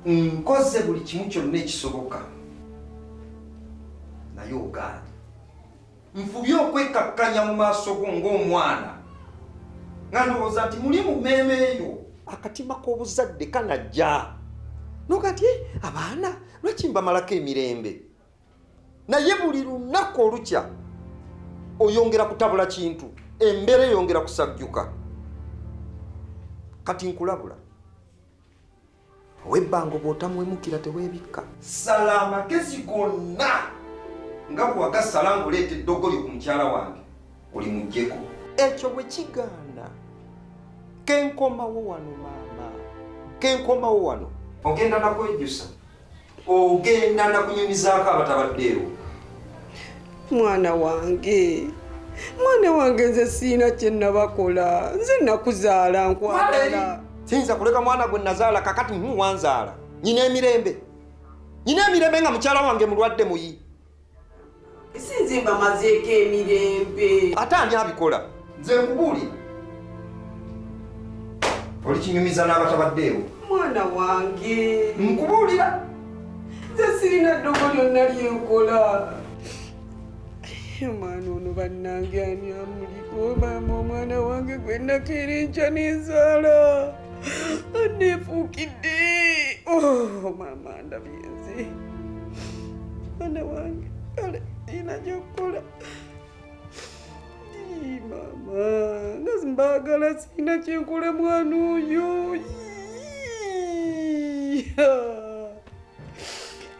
nkoze buli kimu kyonna ekisoboka naye ogaana nfubye okwekakkanya mu maaso go ng'omwana nga ndowooza nti muli mu mmeeme eyo akatima k'obuzadde kanajja noga nti eh, abaana lwaki mbamalako emirembe naye buli lunaku olukya oyongera kutabula kintu embeera eyongera kusajjuka kati nkulabula owebbanga obwotamwemukira tewebikka sala amagezi gonna nga bwewagasala ngaoleeta eddogo lyo ku mukyala wange oli mujjeko ekyo bwe kigaana kenkomawo wano maama kenkomawo wano ogenda nakwejjusa ogenda nakunyumizaako abatabaddeewo mwana wange mwana wange nze siina kyenabakola nze nakuzaala nkwagala siyinza kuleka mwana gwe nazaala kakati nwanzaala nyina emirembe nyina emirembe nga mukyala wange mulwadde muyi sinze mbamazeeko emirembe ate ani abikola nze nkubuuli oli kinyumiza n'abatabaddeewo mwana wange nkubuulira nze sirina ddogo lyonna lyenkola omwana ono bannange ani amuliko oh, maama omwana wange gwe nakeera enkya n'enzaala aneefuukidde oh, maama ndabye mwana wange kale ina gyokukola mama nga zimbagala sirina kyenkole mwana oyo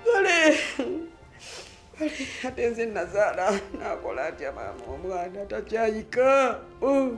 kale kale ate nze nazaala nakola atya maama omwana takyayika oh.